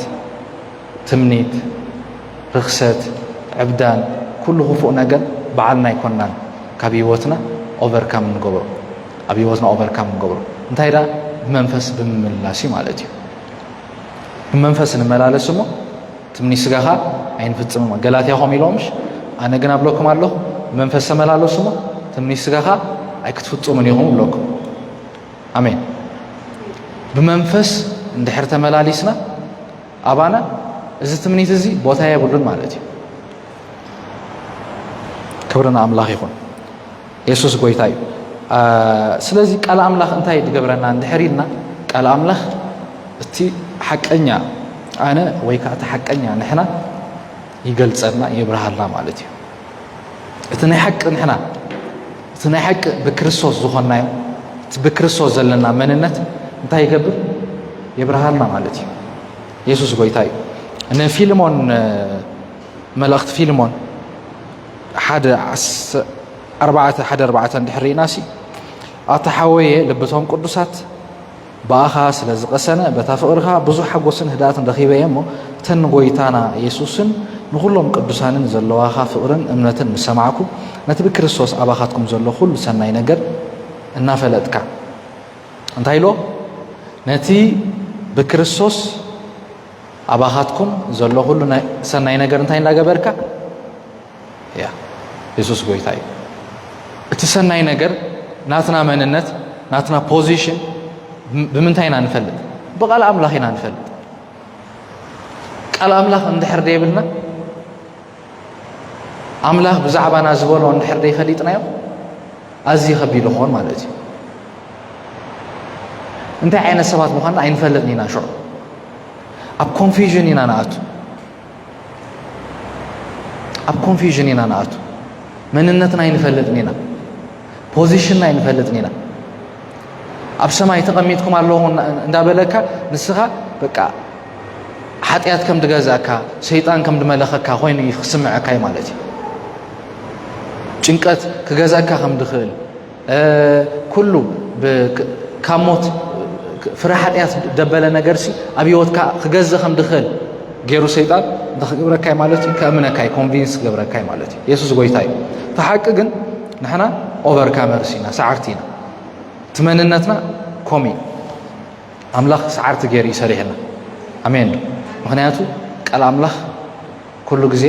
ትምኒት፣ ርኽሰት፣ ዕብዳን ኩሉ ክፉእ ነገር ባዓልና ኣይኮናን ካብ ሂወትና ኦቨርካም ንገብሮ ኣብ ሂወትና ኦቨርካም ንገብሮ እንታይ ደኣ ብመንፈስ ብምምልላስ እዩ ማለት እዩ ብመንፈስ ንመላለስ እሞ ትምኒ ስጋኻ ኣይንፍጽም ገላትያ ኸም ኢሎምሽ ኣነ ግን ኣብለኩም ኣለኹ ብመንፈስ ተመላለሱ እሞ ትምኒ ስጋኻ ኣይክትፍጽሙን ኢኹም ብለኩም ኣሜን ብመንፈስ እንድሕር ተመላሊስና ኣባና እዚ ትምኒት እዚ ቦታ የብሉን ማለት እዩ ክብሪ ንኣምላኽ ይኹን የሱስ ጎይታ እዩ ስለዚ ቃል ኣምላኽ እንታይ ዝገብረና እንድሕር ኢልና ቃል ኣምላኽ እቲ ሓቀኛ ኣነ ወይ ከዓ እቲ ሓቀኛ ንሕና ይገልፀልና የብርሃልና ማለት እዩ እቲ ናይ ሓቂ ንሕና እቲ ናይ ሓቂ ብክርስቶስ ዝኾንናዮ እቲ ብክርስቶስ ዘለና መንነት እንታይ ይገብር የብርሃልና ማለት እዩ የሱስ ጎይታ እዩ ንፊልሞን መልእኽቲ ፊልሞን ሓደ ኣርባዕተ ሓደ ኣርባዕተ እንድሕር ርኢና ሲ ኣታ ሓወየ ልብቶም ቅዱሳት ብኣኻ ስለ ዝቐሰነ በታ ፍቕርኻ ብዙሕ ሓጎስን ህድኣትን ረኺበ እየ እሞ እተን ንጎይታና የሱስን ንዅሎም ቅዱሳንን ዘለዋኻ ፍቕርን እምነትን ምስ ሰማዕኩ ነቲ ብክርስቶስ ኣባኻትኩም ዘሎ ዅሉ ሰናይ ነገር እናፈለጥካ እንታይ ኢሎ ነቲ ብክርስቶስ ኣባኻትኩም ዘሎ ዅሉ ሰናይ ነገር እንታይ እንዳገበርካ እያ የሱስ ጎይታ እዩ እቲ ሰናይ ነገር ናትና መንነት ናትና ፖዚሽን ብምንታይ ኢና ንፈልጥ ብቓል ኣምላኽ ኢና ንፈልጥ ቃል ኣምላኽ እንድሕር ደይብልና ኣምላኽ ብዛዕባና ዝበሎ እንድሕር ደይፈሊጥናዮ ኣዝዩ ከቢድ ይኸውን ማለት እዩ እንታይ ዓይነት ሰባት ምዃንና ኣይንፈልጥን ኢና ሽዑ ኣብ ኮንፊዥን ኢና ንኣቱ ኣብ ኮንፊዥን ኢና ንኣቱ መንነትና ኣይንፈልጥን ኢና ፖዚሽንና ኣይንፈልጥን ኢና ኣብ ሰማይ ተቐሚጥኩም ኣለዎ እንዳበለካ ንስኻ በቃ ሓጢኣት ከም ድገዛእካ ሰይጣን ከም ድመለኸካ ኮይኑ እዩ ክስምዐካዩ ማለት እዩ ጭንቀት ክገዛእካ ከም ድኽእል ኩሉ ካብ ሞት ፍረ ሓጢኣት ደበለ ነገርሲ ኣብ ህይወትካ ክገዘ ከም ድኽእል ገይሩ ሰይጣን እንተ ክገብረካይ ማለት እዩ ከእምነካይ ኮንቪንስ ክገብረካይ ማለት እዩ የሱስ ጎይታ እዩ እቲ ሓቂ ግን ንሕና ኦቨርካመርስ ኢና ሰዓርቲ ኢና እቲ መንነትና ኮም እዩ ኣምላኽ ሰዓርቲ ገይሩ እዩ ሰሪሕና ኣሜን ዶ ምክንያቱ ቃል ኣምላኽ ኩሉ ግዜ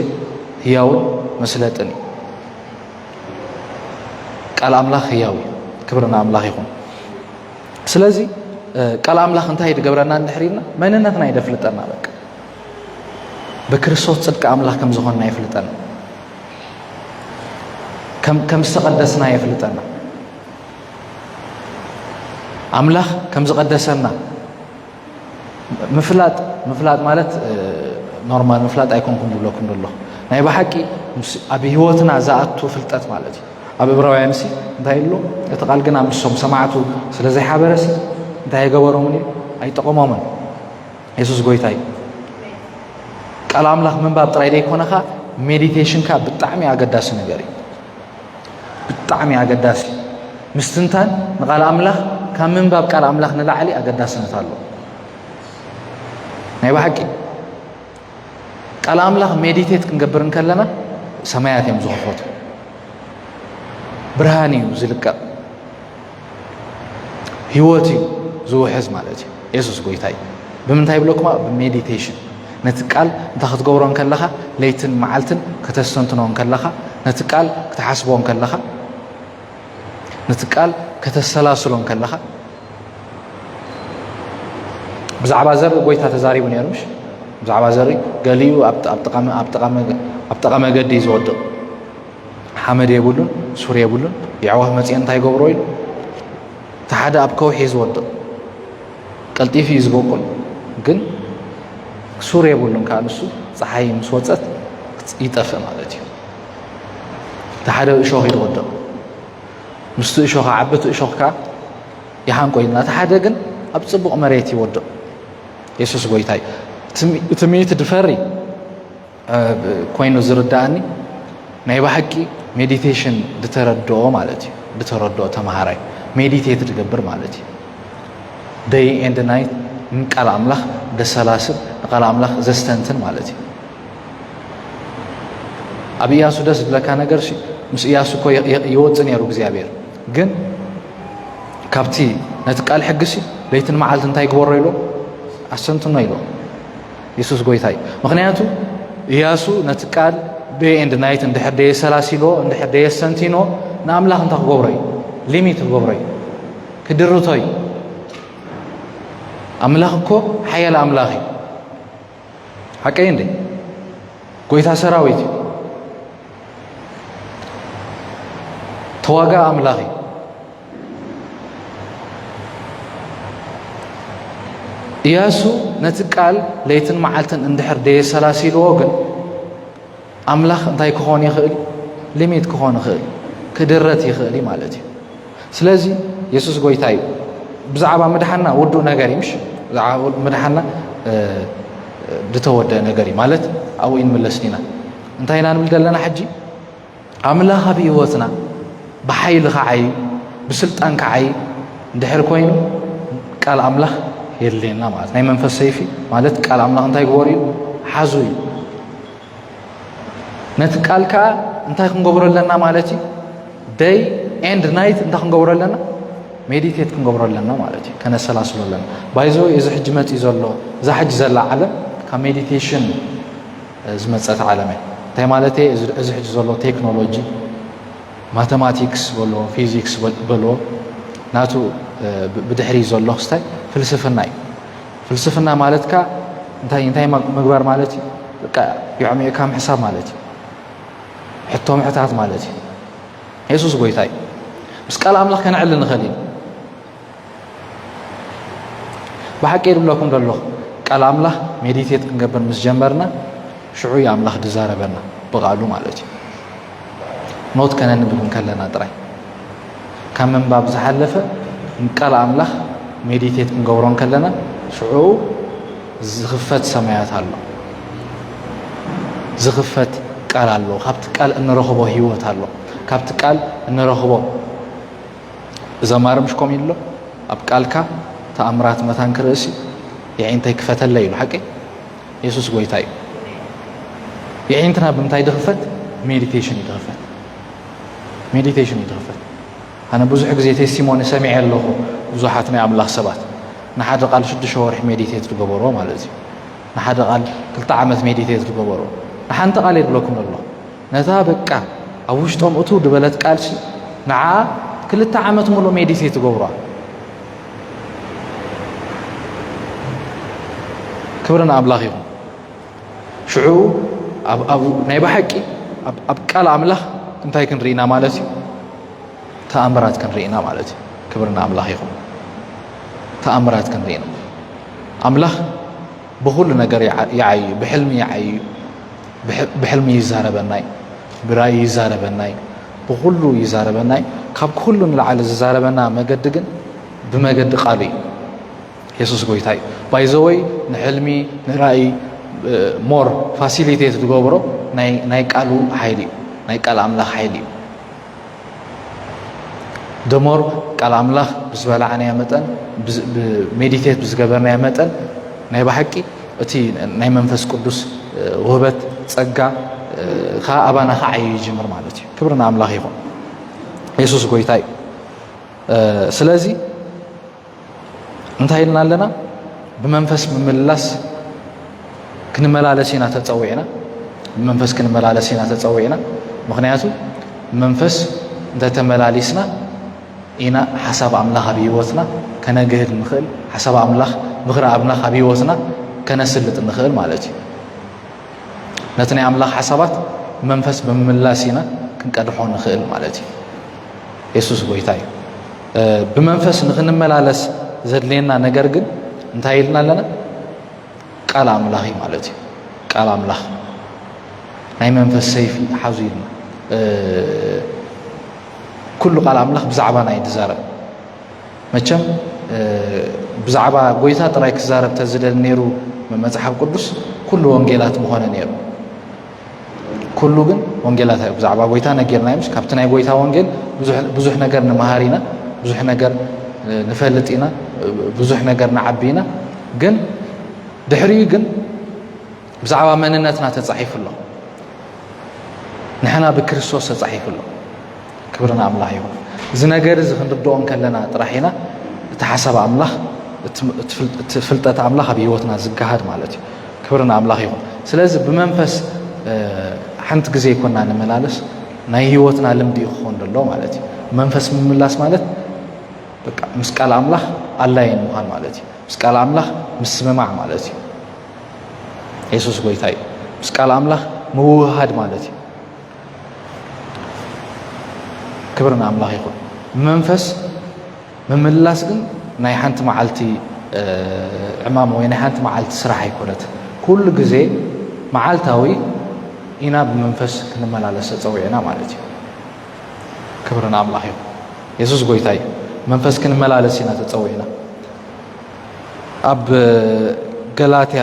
ህያውን መስለጥን እዩ ቃል ኣምላኽ ህያው እዩ ክብሪ ንኣምላኽ ይኹን ስለዚ ቃል ኣምላኽ እንታይ ድገብረና እንድሕሪና መንነትና ይደፍልጠና በቃ ብክርስቶስ ፅድቂ ኣምላኽ ከም ዝኾንና የፍልጠና ከም ዝተቐደስና የፍልጠና ኣምላኽ ከም ዝቐደሰና ምፍላጥ ምፍላጥ ማለት ኖርማል ምፍላጥ ኣይኮንኩም ዝብለኩም ዘሎ ናይ ብሓቂ ኣብ ህይወትና ዝኣቱ ፍልጠት ማለት እዩ ኣብ እብራውያን ሲ እንታይ ኣሎ እቲ ቃል ግና ምሶም ሰማዕቱ ስለ ዘይሓበረ ሲ እንታይ ኣይገበሮምን እዩ ኣይጠቐሞምን የሱስ ጎይታ እዩ ቃል ኣምላኽ ምንባብ ጥራይ ዘይኮነኻ ሜዲቴሽንካ ብጣዕሚ ኣገዳሲ ነገር እዩ ብጣዕሚ ኣገዳሲ ምስትንታን ንቃል ኣምላኽ ካብ ምንባብ ቃል ኣምላኽ ንላዕሊ ኣገዳስነት ኣሎ ናይ ባሓቂ ቃል ኣምላኽ ሜዲቴት ክንገብር እንከለና ሰማያት እዮም ዝኽፈቱ ብርሃን እዩ ዝልቀቕ ህይወት እዩ ዝውሕዝ ማለት እዩ የሱስ ጎይታ እዩ ብምንታይ ይብለኩማ ብሜዲቴሽን ነቲ ቃል እንታይ ክትገብሮ ከለኻ ለይትን መዓልትን ከተስተንትኖ ከለኻ ነቲ ቃል ክትሓስቦ ከለኻ ነቲ ቃል ከተሰላስሎ ከለኻ ብዛዕባ ዘርኢ ጎይታ ተዛሪቡ ነሩ ሽ ብዛዕባ ዘርኢ ገሊኡ ኣብ ጠቐ መገዲ እዩ ዝወድቕ ሓመድ የብሉን ሱር የብሉን የዕዋፍ መጺኤን እንታይ ይገብሮ ኢሉ እቲ ሓደ ኣብ ከውሒ ዝወድቕ ቀልጢፉ እዩ ዝበቁል ግን ሱር የብሉን ከዓ ንሱ ፀሓይ ምስ ወፀት ይጠፍእ ማለት እዩ እቲ ሓደ እሾኽ እዩ ዝወድቕ ምስቲ እሾኽ ዓበቲ እሾኽ ከዓ ይሃንቆ ኢልና እቲ ሓደ ግን ኣብ ፅቡቕ መሬት ይወድቕ የሱስ ጎይታ እዩ እቲ ምእቲ ድፈሪ ኮይኑ ዝርዳኣኒ ናይ ባሓቂ ሜዲቴሽን ድተረድኦ ማለት እዩ ድተረድኦ ተማሃራይ ሜዲቴት ድገብር ማለት እዩ ደይ ኤንድ ናይት ንቃል ኣምላኽ ደሰላስል ንቃል ኣምላኽ ዘስተንትን ማለት እዩ ኣብ እያሱ ደስ ዝብለካ ነገር ምስ እያሱ እኮ ይወፅእ ነይሩ እግዚኣብሔር ግን ካብቲ ነቲ ቃል ሕግሲ ለይትን መዓልቲ እንታይ ግበሮ ኢሎ ኣስተንትኖ ኢሎ የሱስ ጎይታ እዩ ምክንያቱ እያሱ ነቲ ቃል ደይ ኤንድ ናይት እንድሕር ደየ ሰላሲሎ እንድሕር ደየ ሰንቲኖ ንኣምላኽ እንታይ ክገብሮ እዩ ሊሚት ክገብሮ እዩ ክድርቶ እዩ ኣምላኽ እኮ ሓያል ኣምላኽ እዩ ሓቀይ እንደ ጎይታ ሰራዊት እዩ ተዋጋ ኣምላኽ እዩ እያሱ ነቲ ቃል ለይትን መዓልትን እንድሕር ደየሰላሲልዎ ግን ኣምላኽ እንታይ ክኾን ይኽእል ሊሚት ክኾን ይኽእል ክድረት ይኽእል እዩ ማለት እዩ ስለዚ የሱስ ጎይታ እዩ ብዛዕባ ምድሓና ውዱእ ነገር እዩ ምሽ ብዛዕባ ምድሓና ዝተወደአ ነገር እዩ ማለት ኣብኡ ይንምለስ ኢና እንታይ ኢና ንብል ዘለና ሕጂ ኣምላኽ ኣብ ህይወትና ብሓይሊ ከዓይ ብስልጣን ከዓይ እንድሕር ኮይኑ ቃል ኣምላኽ የድልየና ማለት ናይ መንፈስ ሰይፊ ማለት ቃል ኣምላኽ እንታይ ግበሩ እዩ ሓዙ እዩ ነቲ ቃል ከዓ እንታይ ክንገብሮ ኣለና ማለት እዩ ደይ ኤንድ ናይት እንታይ ክንገብሮ ኣለና ሜዲቴት ክንገብሮ ኣለና ማለት እዩ ከነሰላስሎ ኣለና ባይዞ እዚ ሕጂ መፅእ ዘሎ እዛ ሕጂ ዘላ ዓለም ካብ ሜዲቴሽን ዝመጸት ዓለም እያ እንታይ ማለት እየ እዚ ሕጂ ዘሎ ቴክኖሎጂ ማተማቲክስ በልዎ ፊዚክስ በልዎ ናቱ ብድሕሪ ዘሎ ክስታይ ፍልስፍና እዩ ፍልስፍና ማለት ካ እንታይ እንታይ ምግባር ማለት እዩ በቃ የዕሚዕካ ምሕሳብ ማለት እዩ ሕቶ ምሕታት ማለት እዩ የሱስ ጎይታ እዩ ምስ ቃል ኣምላኽ ከነዕሊ ንኽእል እዩ ብሓቂ ይብለኩም ደለኹ ቃል ኣምላኽ ሜዲቴት ክንገብር ምስ ጀመርና ሽዑ ዩ ኣምላኽ ድዛረበና ብቓሉ ማለት እዩ ኖት ከነንብብ እንከለና ጥራይ ካብ ምንባብ ዝሓለፈ ንቃል ኣምላኽ ሜዲቴት ክንገብሮ እንከለና ሽዑ ዝኽፈት ሰማያት ኣሎ ዝኽፈት ቃል ኣሎ ካብቲ ቃል እንረኽቦ ህይወት ኣሎ ካብቲ ቃል እንረኽቦ እዛ ማርምሽ ኮም ኢሎ ኣብ ቃልካ ተኣምራት መታን ክርእሲ የዒንተይ ክፈተለይ ኢሉ ሓቂ የሱስ ጎይታ እዩ የዒንትና ብምንታይ ድኽፈት ሜዲቴሽን እዩ ድኽፈት ሜዲቴሽን እዩ ድኽፈት ኣነ ብዙሕ ግዜ ቴስቲሞኒ ሰሚዐ ኣለኹ ብዙሓት ናይ ኣምላኽ ሰባት ንሓደ ቃል ሽዱሽተ ወርሒ ሜዲቴት ዝገበሮ ማለት እዩ ንሓደ ቃል ክልተ ዓመት ሜዲቴት ዝገበሮ ንሓንቲ ቃል የድለኩም ኣሎ ነታ በቃ ኣብ ውሽጦም እቱ ድበለት ቃልሲ ንዓኣ ክልተ ዓመት ምሉእ ሜዲቴት ትገብሯ ክብሪ ንኣምላኽ ይኹን ሽዑ ናይ ብሓቂ ኣብ ቃል ኣምላኽ እንታይ ክንርኢና ማለት እዩ ተኣምራት ክንርኢና ማለት እዩ ክብሪ ንኣምላኽ ይኹን ተኣምራት ክንርኢና ኣምላኽ ብኹሉ ነገር ይዓይ እዩ ብሕልሚ ይዓይ እዩ ብሕልሚ ይዛረበናይ ብራእይ ይዛረበናይ ብኹሉ ይዛረበናይ ካብ ኩሉ ንላዓሊ ዝዛረበና መገዲ ግን ብመገዲ ቃሉ እዩ የሱስ ጎይታ እዩ ባይዘወይ ንሕልሚ ንራእይ ሞር ፋሲሊቴት ዝገብሮ ናይ ቃሉ ሓይሊ እዩ ናይ ቃል ኣምላኽ ሓይሊ እዩ ደሞር ቃል ኣምላኽ ብዝበላዕናዮ መጠን ብሜዲቴት ብዝገበርናዮ መጠን ናይ ባሓቂ እቲ ናይ መንፈስ ቅዱስ ውህበት ጸጋ ከዓ ኣባና ክዓዩ ይጅምር ማለት እዩ ክብሪ ንኣምላኽ ይኹን የሱስ ጎይታ እዩ ስለዚ እንታይ ኢልና ኣለና ብመንፈስ ምምልላስ ክንመላለስ ኢና ተፀዊዕና ብመንፈስ ክንመላለስ ኢና ተፀዊዕና ምክንያቱ መንፈስ እንተተመላሊስና ኢና ሓሳብ ኣምላኽ ኣብ ህይወትና ከነግህድ ንኽእል ሓሳብ ኣምላኽ ምኽሪ ኣምላኽ ኣብ ህይወትና ከነስልጥ ንኽእል ማለት እዩ ነቲ ናይ ኣምላኽ ሓሳባት መንፈስ ብምምላስ ኢና ክንቀድሖ ንኽእል ማለት እዩ የሱስ ጎይታ እዩ ብመንፈስ ንኽንመላለስ ዘድልየና ነገር ግን እንታይ ኢልና ኣለና? ቃል ኣምላኽ እዩ ማለት እዩ። ቃል ኣምላኽ ናይ መንፈስ ሰይፊ ሓዙ ኢልና ኩሉ ቃል ኣምላኽ ብዛዕባና እዩ ዝዛረብ። መቸም ብዛዕባ ጎይታ ጥራይ ክዛረብ ተዝደል ነይሩ መጽሓፍ ቅዱስ ኩሉ ወንጌላት ምኾነ ነይሩ። ኩሉ ግን ወንጌላት ኣዩ ብዛዕባ ጎይታ ነጊርና ዩምስ ካብቲ ናይ ጎይታ ወንጌል ብዙሕ ነገር ንመሃር ኢና ብዙሕ ነገር ንፈልጥ ኢና ብዙሕ ነገር ንዓቢ ኢና ግን ድሕሪኡ ግን ብዛዕባ መንነትና ተፃሒፉ ኣሎ ንሕና ብክርስቶስ ተፃሒፉ ኣሎ ክብሪ ንኣምላኽ ይኹን እዚ ነገር እዚ ክንርድኦ እንከለና ጥራሕ ኢና እቲ ሓሳብ ኣምላኽ እቲ ፍልጠት ኣምላኽ ኣብ ህይወትና ዝገሃድ ማለት እዩ ክብሪ ንኣምላኽ ይኹን ስለዚ ብመንፈስ ሓንቲ ግዜ ይኮና ንመላለስ ናይ ህይወትና ልምዲ እዩ ክኾን ደሎ ማለት እዩ መንፈስ ምምላስ ማለት በቃ ምስ ቃል ኣምላኽ ኣላይን ምዃን ማለት እዩ ምስ ቃል ኣምላኽ ምስምማዕ ማለት እዩ የሱስ ጎይታ እዩ ምስ ቃል ኣምላኽ ምውህሃድ ማለት እዩ ክብሪ ንኣምላኽ ይኹን። መንፈስ ምምላስ ግን ናይ ሓንቲ መዓልቲ ዕማም ወይ ናይ ሓንቲ መዓልቲ ስራሕ ኣይኮነት። ኩሉ ግዜ መዓልታዊ ኢና ብመንፈስ ክንመላለስ ተፀዊዕና ማለት እዩ። ክብሪ ንኣምላኽ ይኹን። የሱስ ጎይታ እዩ። መንፈስ ክንመላለስ ኢና ተፀዊዕና ኣብ ገላትያ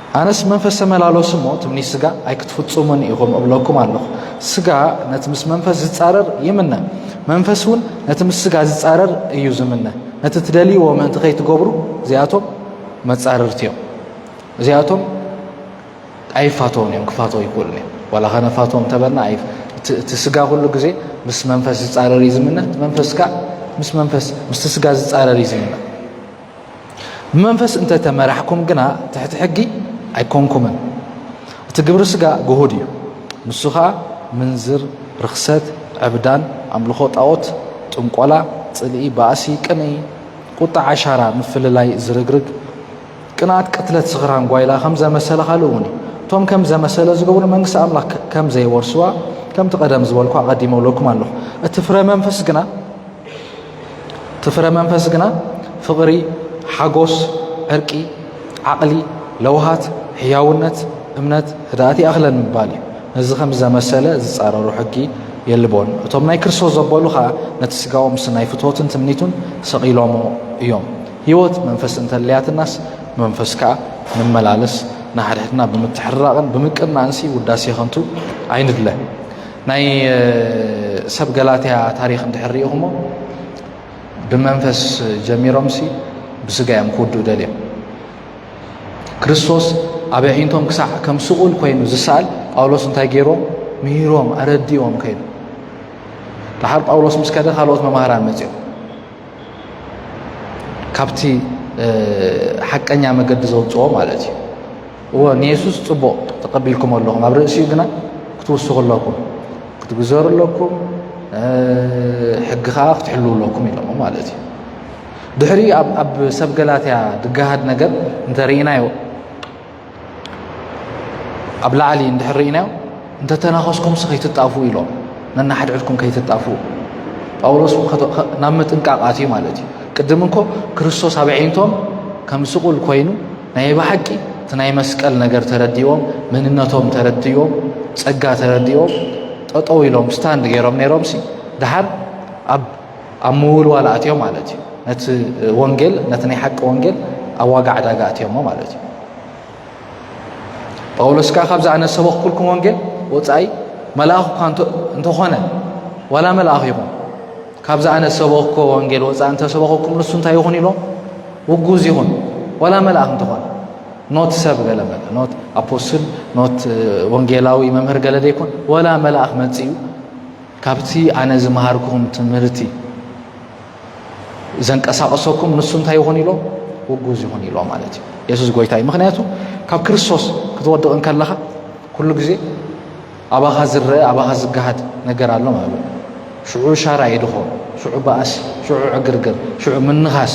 ኣነስ መንፈስ ተመላለሱ እሞ ትምኒት ስጋ ኣይክትፍጽሙን ኢኹም እብለኩም ኣለኹ። ስጋ ነቲ ምስ መንፈስ ዝጻረር ይምነ፣ መንፈስ እውን ነቲ ምስ ስጋ ዝጻረር እዩ ዝምነ። ነቲ ትደልይዎ ምእንቲ ከይትገብሩ እዚኣቶም መጻርርቲ እዮም። እዚኣቶም ኣይፋተውን እዮም፣ ክፋተው ኣይክእሉን እዮም። ዋላ ከነፋቶም እንተበልና እቲ ስጋ ኩሉ ግዜ ምስ መንፈስ ዝጻረር እዩ ዝምነ፣ እቲ መንፈስ ከዓ ምስ መንፈስ ምስቲ ስጋ ዝጻረር እዩ ዝምነ። ብመንፈስ እንተ ተመራሕኩም ግና ትሕቲ ሕጊ ኣይኮንኩምን። እቲ ግብሪ ስጋ ግሁድ እዩ፣ ንሱ ኸኣ ምንዝር፣ ርኽሰት፣ ዕብዳን፣ ኣምልኾ ጣኦት፣ ጥንቆላ፣ ጽልኢ፣ ባእሲ፣ ቅንኢ፣ ቁጣ፣ ዓሻራ፣ ምፍልላይ፣ ዝርግርግ፣ ቅንኣት፣ ቅትለት፣ ስኽራን፣ ጓይላ ከም ዘመሰለ ካልእ እውን እዩ። እቶም ከም ዘመሰለ ዝገብሩ መንግስቲ ኣምላኽ ከም ዘይወርስዋ ከምቲ ቀደም ዝበልኩ ኣቐዲመ እብለኩም ኣለኹ። እቲ ፍረ መንፈስ ግና እቲ ፍረ መንፈስ ግና ፍቕሪ፣ ሓጎስ፣ ዕርቂ፣ ዓቕሊ፣ ለውሃት፣ ሕያውነት፣ እምነት፣ ህድኣት ይኣኽለን ምባል እዩ። ነዚ ከምዚ ዘመሰለ ዝጻረሮ ሕጊ የልቦን። እቶም ናይ ክርስቶስ ዘበሉ ኸኣ ነቲ ስጋኡ ምስ ናይ ፍትወትን ትምኒቱን ሰቒሎሞ እዮም። ህይወት መንፈስ እንተልያትናስ ብመንፈስ ከኣ ንመላለስ፣ ንሓድሕድና ብምትሕርራቕን ብምቅናእንሲ ውዳሴ ኸንቱ ኣይንድለ። ናይ ሰብ ገላትያ ታሪኽ እንድሕር ሪኢኹሞ ብመንፈስ ጀሚሮምሲ ብስጋ እዮም ክውድኡ ደልዮም ክርስቶስ ኣብ ኣዒንቶም ክሳዕ ከም ስቑል ኮይኑ ዝሰኣል ጳውሎስ እንታይ ገይሮም ምሂሮም ኣረዲኦም ከይዱ ደሓር ጳውሎስ ምስ ከደ ካልኦት መማህራን መፅኦም ካብቲ ሓቀኛ መገዲ ዘውፅኦ ማለት እዩ እወ ንየሱስ ጽቡቕ ተቐቢልኩም ኣለኹም ኣብ ርእሲኡ ግና ክትውስኹ ኣለኩም ክትግዘሩ ኣለኩም ሕጊ ከዓ ክትሕልው ኣለኩም ኢሎሞ ማለት እዩ ድሕሪ ኣብ ሰብ ገላትያ ድገሃድ ነገር እንተርኢናዮ ኣብ ላዕሊ እንድሕር ርኢናዮ እንተተናኸስኩምሲ ከይትጣፍኡ ኢሎም ነናሕድሕድኩም ከይትጣፍኡ ጳውሎስ ናብ ምጥንቃቕ ኣትዩ ማለት እዩ ቅድም እንኮ ክርስቶስ ኣብ ዓይንቶም ከም ስቑል ኮይኑ ናይ ባሓቂ እቲ ናይ መስቀል ነገር ተረዲዎም መንነቶም ተረዲዎም ጸጋ ተረዲዎም ጠጠው ኢሎም ስታንድ ገይሮም ነይሮም ሲ ድሓር ኣብ ኣብ ምውልዋል ኣትዮም ማለት እዩ ነቲ ወንጌል ነቲ ናይ ሓቂ ወንጌል ኣብ ዋጋ ዕዳጋ ኣትዮሞ ማለት እዩ ጳውሎስ ከኣ ካብዚ ኣነ ዝሰበኽኩልኩም ወንጌል ወጻኢ መልኣኽ እኳ እንተኾነ ዋላ መልኣኽ ይኹን ካብዚ ኣነ ዝሰበኽኮ ወንጌል ወጻኢ እንተሰበኸኩም ንሱ እንታይ ይኹን ኢሎም ውጉዝ ይኹን ዋላ መልኣኽ እንተኾነ ኖት ሰብ ገለ መለ ኖት ኣፖስትል ኖት ወንጌላዊ መምህር ገለ ዘይኮን ወላ መልኣኽ መጽኡ ካብቲ ኣነ ዝመሃርኩም ትምህርቲ ዘንቀሳቕሰኩም ንሱ እንታይ ይኹን ኢሎ ውጉዝ ይኹን ኢሎ ማለት እዩ የሱስ ጎይታ እዩ ምክንያቱ ካብ ክርስቶስ ክትወድቕ እንከለኻ ኩሉ ግዜ ኣባኻ ዝረአ ኣባኻ ዝገሃድ ነገር ኣሎ ማለት እዩ ሽዑ ሻራ የድኾ ሽዑ በኣስ ሽዑ ዕግርግር ሽዑ ምንኻስ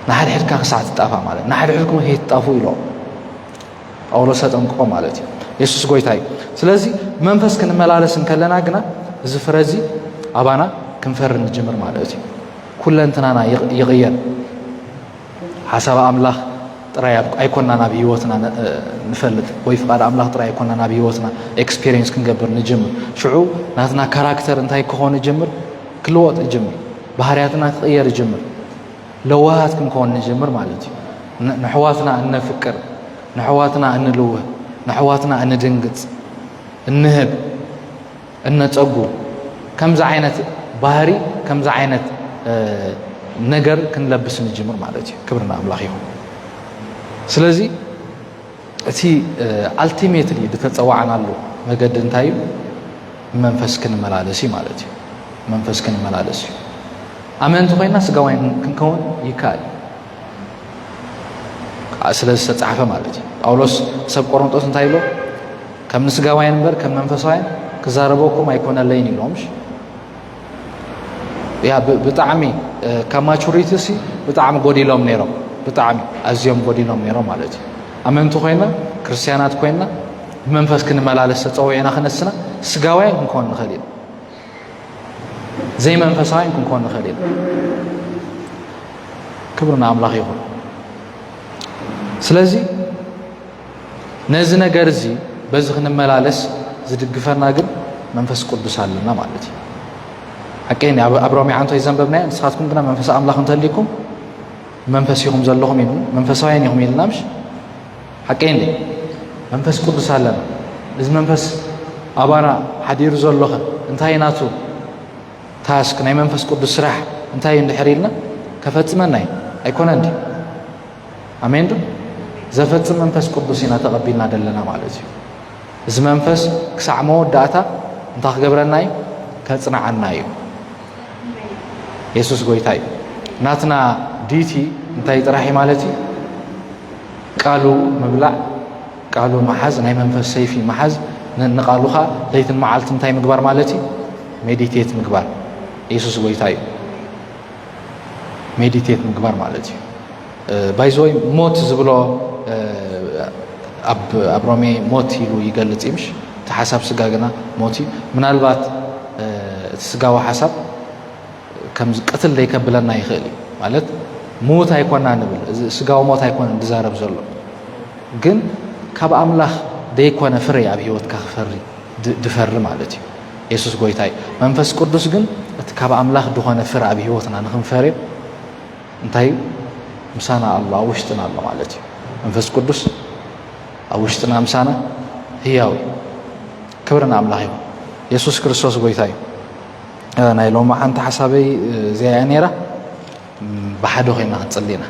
ንሓድሕድካ ክሳዕ ትጣፋእ ማለት ንሓድሕድኩም ከይትጣፉ ኢሎ ጳውሎስ ተጠንቅቆ ማለት እዩ የሱስ ጎይታ እዩ ስለዚ መንፈስ ክንመላለስ እንከለና ግና እዚ ፍረ እዚ ኣባና ክንፈሪ ንጅምር ማለት እዩ ኩለንትናና ይቕየር ሓሳብ ኣምላኽ ጥራይ ኣይኮናን ኣብ ሂወትና ንፈልጥ ወይ ፍቓድ ኣምላኽ ጥራይ ኣይኮናን ኣብ ሂወትና ኤክስፔሪንስ ክንገብር ንጅምር ሽዑ ናትና ካራክተር እንታይ ክኾን ይጅምር ክልወጥ ይጅምር ባህርያትና ክቕየር ይጅምር ለዋሃት ክንከውን ንጅምር ማለት እዩ ንሕዋትና እነፍቅር ንሕዋትና እንልውህ ንሕዋትና እንድንግፅ እንህብ እነፀጉ ከምዚ ዓይነት ባህሪ ከምዚ ዓይነት ነገር ክንለብስ ንጅምር ማለት እዩ ክብርና ኣምላኽ ይኹን ስለዚ እቲ ኣልቲሜትሊ ዝተጸዋዕናሉ መገዲ እንታይ እዩ? መንፈስ ክንመላለስ እዩ ማለት እዩ። መንፈስ ክንመላለስ እዩ። ኣመንቲ ኮይና ስጋውያን ክንከውን ይከኣል እዩ። ስለ ዝተጻሕፈ ማለት እዩ ጳውሎስ ሰብ ቆሮንጦስ እንታይ ኢሎ ከም ንስጋውያን እምበር ከም መንፈሳውያን ክዛረበኩም ኣይኮነለይን ኢሎምሽ ያ ብጣዕሚ ካብ ማቹሪቲ ሲ ብጣዕሚ ጎዲሎም ነይሮም ብጣዕሚ ኣዝዮም ጎዲሎም ነይሮም ማለት እዩ ኣመንቲ ኮይና ክርስትያናት ኮይና ብመንፈስ ክንመላለስ ተፀዊዕና ክነስና ስጋውያን ክንኮን ንኽእል ኢና ዘይመንፈሳውያን ክንኮን ንኽእል ኢና ክብሪ ንኣምላኽ ይኹን ስለዚ ነዚ ነገር እዚ በዚ ክንመላለስ ዝድግፈና ግን መንፈስ ቅዱስ ኣለና ማለት እዩ ሓቀይ ኣብ ሮሜ ዓንቶ ይዘንበብናዮ ንስኻትኩም ግና መንፈስ ኣምላኽ እንተልይኩም መንፈስ ኢኹም ዘለኹም ኢሉ መንፈሳውያን ኢኹም ኢልና ምሽ ሓቀይ እንደ መንፈስ ቅዱስ ኣለና እዚ መንፈስ ኣባና ሓዲሩ ዘሎኸ እንታይ ናቱ ታስክ ናይ መንፈስ ቅዱስ ስራሕ እንታይ እዩ እንድሕር ኢልና ከፈፅመና እዩ ኣይኮነ እንዲ ኣሜን ዶ ዘፈጽም መንፈስ ቅዱስ ኢና ተቐቢልና ዘለና ማለት እዩ እዚ መንፈስ ክሳዕ መወዳእታ እንታይ ክገብረና እዩ ከጽንዓና እዩ የሱስ ጎይታ እዩ ናትና ዲቲ እንታይ ጥራሕ እዩ ማለት እዩ ቃሉ ምብላዕ ቃሉ መሓዝ ናይ መንፈስ ሰይፊ መሓዝ ንቃሉኻ ለይትን መዓልቲ እንታይ ምግባር ማለት እዩ ሜዲቴት ምግባር የሱስ ጎይታ እዩ ሜዲቴት ምግባር ማለት እዩ ባይዘወይ ሞት ዝብሎ ኣብ ሮሜ ሞት ኢሉ ይገልፅ እዩ ምሽ እቲ ሓሳብ ስጋ ግና ሞት እዩ ምናልባት እቲ ስጋዊ ሓሳብ ከምዚ ቅትል ዘይከብለና ይኽእል እዩ ማለት ምዉት ኣይኮና ንብል እዚ ስጋዊ ሞት ኣይኮነ ዝዛረብ ዘሎ ግን ካብ ኣምላኽ ዘይኮነ ፍረ ኣብ ሂወትካ ክፈሪ ድፈሪ ማለት እዩ የሱስ ጎይታ እዩ። መንፈስ ቅዱስ ግን እቲ ካብ ኣምላኽ ድኾነ ፍረ ኣብ ህይወትና ንክንፈርዮ እንታይ እዩ ምሳና ኣሎ ኣብ ውሽጥና ኣሎ ማለት እዩ። መንፈስ ቅዱስ ኣብ ውሽጥና ምሳና ህያው እዩ። ክብሪ ንኣምላኽ እዩ። የሱስ ክርስቶስ ጎይታ እዩ። ናይ ሎሚ ሓንቲ ሓሳበይ እዚኣ እያ ነይራ ብሓደ ኮይና ክንፅሊ ኢና